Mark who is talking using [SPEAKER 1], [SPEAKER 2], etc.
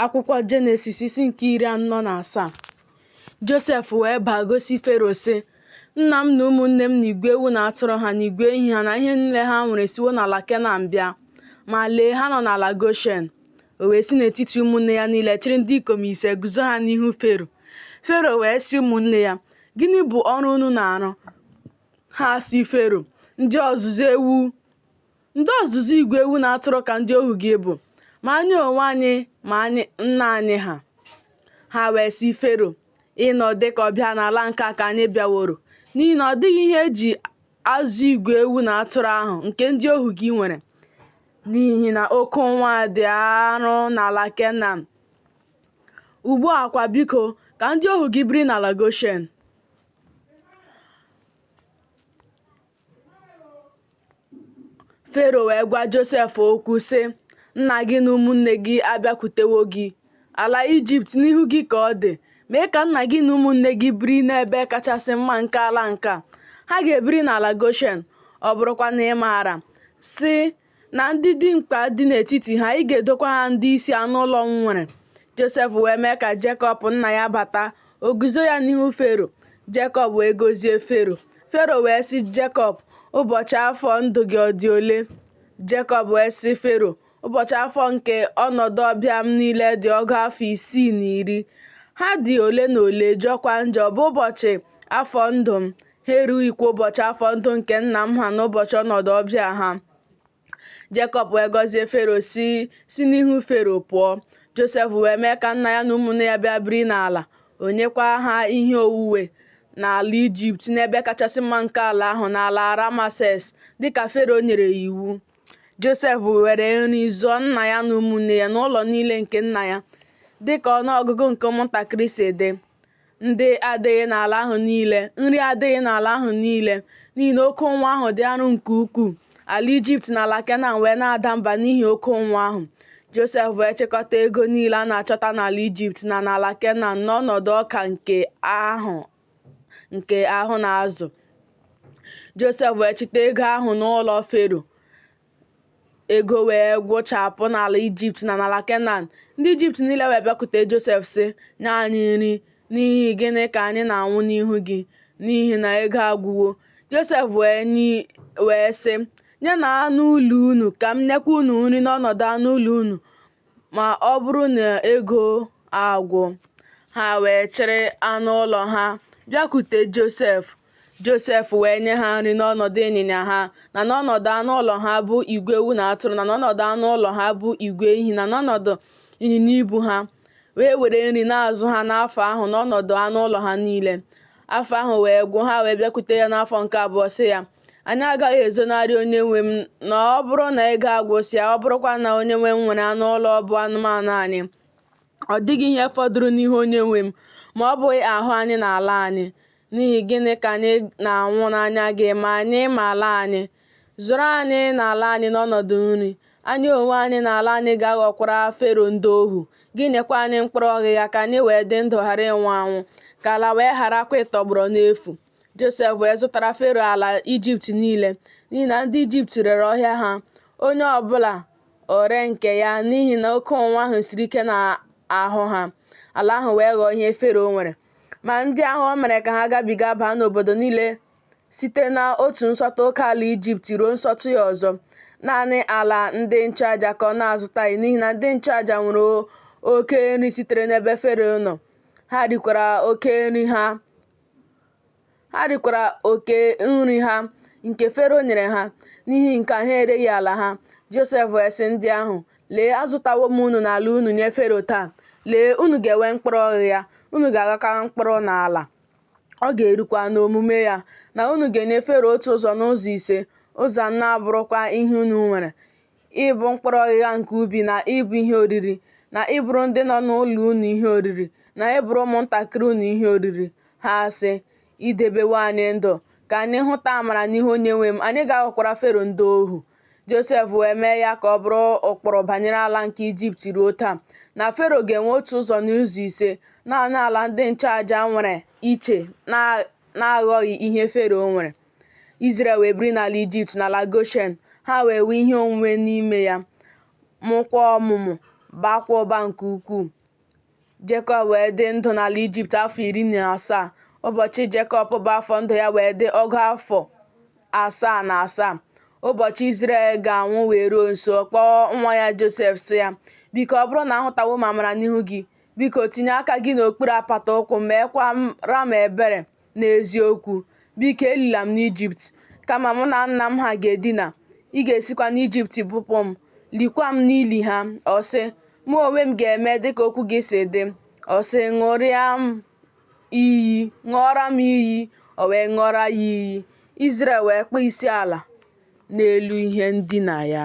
[SPEAKER 1] akwụkwọ jenesis isi nke iri anọ na asaa josef wee baa gosi fero sị nna m na ụmụnne m na igwe ewu na atụrụ ha na igwe ehi ha na ihe niile ha nwere siwo n'ala kenan bịa ma lee ha nọ n'ala goshen o wee si n'etiti ụmụnne ya niile chịrị ndị ikom ise guzo ha n'ihu fero fero wee sị ụmụnne ya gịnị bụ ọrụ unu na-arụ ha sị fero ndị ọzụzụ ewu Ndị ọzụzụ igwe ewu na atụrụ ka ndị ohu gị bụ, ma anyị onwe anyị ma nna anyị ha. Ha wee sị Fero, Ịnọ dị ka ọbịa n'ala nke a ka anyị bịaworo, n'ihi na ọ dịghị ihe eji azụ igwe ewu na atụrụ ahụ nke ndị ohu gị nwere, n'ihi na oke ụnwụ a dị arụ n'ala Kenan. Ugbu a kwa biko, ka ndị ohu gị biri n'ala Goshen. Fero wee gwa Josef okwu sị, Nna gị na ụmụnne gị abịakwutewo gị. Ala Ijipt n'ihu gị ka ọ dị. Mee ka nna gị na ụmụnne gị biri n'ebe kachasị mma nke ala nke a. Ha ga-ebiri n'ala Goshen. Ọ bụrụkwa na ị maara, sị, na ndị dimkpa dị n'etiti ha, ị ga-edokwa ha ndị isi anụ ụlọ m nwere. Josef wee mee ka Jekọb nna ya bata, o guzo ya n'ihu Fero. Jekọb wee gọzie Fero. Fero wee sị Jekọb, Ụbọchị afọ ndụ gị ọ dị ole? Jekọb wee sị Fero, Ụbọchị afọ nke ọnọdụ ọbịa m niile dị ọgụ afọ isii na iri. Ha dị ole na ole, jọkwa njọ, bụ ụbọchị afọ ndụ m. ha erughịkwa ụbọchị afọ ndụ nke nna m ha n'ụbọchị ọnọdụ ọbịa ha Jekọb wee gọzie Fero si n'ihu Fero pụọ Josef wee mee ka nna ya na ụmụnne ya bịa biri n'ala o nyekwa ha ihe onwunwe n'ala Ijipt n'ebe kachasị mma nke ala ahụ n'ala Ramases dịka Fero nyere ya iwu Josef were nri zụọ nna ya na ụmụnne ya na ụlọ niile nke nna ya dịka ọnụọgụgụ nke ụmụntakịrị si dị Ndị adịghị n'ala ahụ niile, nri adịghị n'ala ahụ niile, n'ihi na oke ụnwụ ahụ dị arụ nke ukwuu. Ala Ijipt na ala Kenan wee na-ada mba n'ihi oke ụnwụ ahụ. Josef wee chịkọta ego niile a na-achọta n'ala Ijipt na n'ala Kenan n'ọnọdụ ọka nke ahụ na-azụ. Josef wee chịta ego ahụ n'ụlọ Fero. Ego wee gwụchapụ n'ala Ijipt na n'ala Kenan. Ndị Ijipt niile wee bịakwute Josef sị, Nye anyị nri, n'ihi gịnị ka anyị na-anwụ n'ihu gị? N'ihi na ego agwụwo. Josef wee sị, Nyenụ anụ ụlọ unu ka m nyekwa unu nri n'ọnọdụ anụ ụlọ unu ma ọ bụrụ na ego agwụ. Ha wee chịrị anụ ụlọ ha bịakwute Josef. Josef wee nye ha nri n'ọnọdụ ịnyịnya ha na n'ọnọdụ anụ ụlọ ha bụ igwe ewu na atụrụ na n'ọnọdụ anụ ụlọ ha bụ igwe ehi na n'ọnọdụ ịnyịnya ibu ha wee were nri na-azụ ha n'afọ ahụ n'ọnọdụ anụ ụlọ ha niile afọ ahụ wee gwụ ha wee bịakwute ya n'afọ nke abụọ sị ya anyị agaghị ezonarị onye nwe m na ọ bụrụ na ego agwụsịa ọ bụrụkwa na onye nwe m nwere anụ ụlọ bụ anụmanụ anyị ọ dịghị ihe fọdụrụ n'ihu onye nwe m ma ọ bụghị ahụ anyị na ala anyị N'ihi gịnị ka anyị na-anwụ n'anya gị ma anyị ma ala anyị? Zụrụ anyị na ala anyị n'ọnọdụ nri. Anyị onwe anyị na ala anyị ga-aghọkwara Fero ndị ohu. Gị nyekwa anyị mkpụrụ ọghịgha ka anyị wee dị ndụ ghara ịnwụ anwụ, ka ala wee gharakwa ịtọgbọrọ n'efu. Josef wee zụtara Fero ala Ijipt niile, n'ihi na ndị Ijipt rere ọhịa ha, onye ọ bụla o ree nke ya, n'ihi na oke ụnwụ ahụ siri ike n'ahụ ha. Ala ahụ wee ghọọ ihe Fero nwere. Ma ndị ahụ o mere ka ha gabiga baa n'obodo niile site n'otu nsọtụ oke ala Ijipt ruo nsọtụ ya ọzọ. Naanị ala ndị nchụaja ka ọ na-azụtaghị n'ihi na ndị nchụaja nwere oke nri sitere n'ebe Fero nọ. Ha rikwara oke nri ha. ha rikwara oke nri ha nke Fero nyere ha. N'ihi nke a, ha ereghị ala ha. Josef wee sị ndị ahụ, Lee, azụtawo m unu na ala unu nye Fero taa. Lee, unu ga-enwe mkpụrụ ọghịgha, unu ga-aghakwa mkpụrụ n'ala. Ọ ga-erukwa n'omume ya na unu ga-enye Fero otu ụzọ n'ụzọ ise, ụzọ anọ abụrụkwa ihe unu nwere. ịbụ mkpụrụ ọghịgha nke ubi na ịbụ ihe oriri na ịbụrụ ndị nọ n'ụlọ unu ihe oriri na ịbụrụ ụmụntakịrị unu ihe oriri ha sị i debewo anyị ndụ ka anyị hụta amara n'ihu onye nwe m anyị ga-aghọkwara fero ndị ohu josef wee mee ya ka ọ bụrụ ụkpụrụ banyere ala nke ijipt ruo taa na fero ga-enwe otu ụzọ n'ụzọ ise naanị ala ndị nchụaja nwere iche na-aghọghị ihe fero nwere Izrel wee biri n'ala Ijipt n'ala Goshen, ha wee nwee ihe onwunwe n'ime ya, mụkwa ọmụmụ, baakwa ụba nke ukwuu. Jekọb wee dị ndụ n'ala Ijipt afọ iri na asaa. Ụbọchị Jekọb bụ afọ ndụ ya wee dị ọgụ afọ asaa na asaa. Ụbọchị Izrel ga-anwụ wee ruo nso, ọ kpọọ nwa ya Josef sị ya, Biko, ọ bụrụ na ahụtawo m amara n'ihu gị, biko tinye aka gị n'okpuru apata ụkwụ m, meekwara m ebere. Na eziokwu, biko elila m n'Ijipt, kama mụ na nna m ha ga-edina. Ị ga-esikwa n'Ijipt bupụ m, likwa m n'ili ha. Ọ sị, Mụ onwe m ga-eme dịka okwu gị si dị. Ọ sị, Ṅụọra m iyi. O wee ṅụọra ya iyi. Izrel wee kpọọ isiala n'elu ihe ndina ya.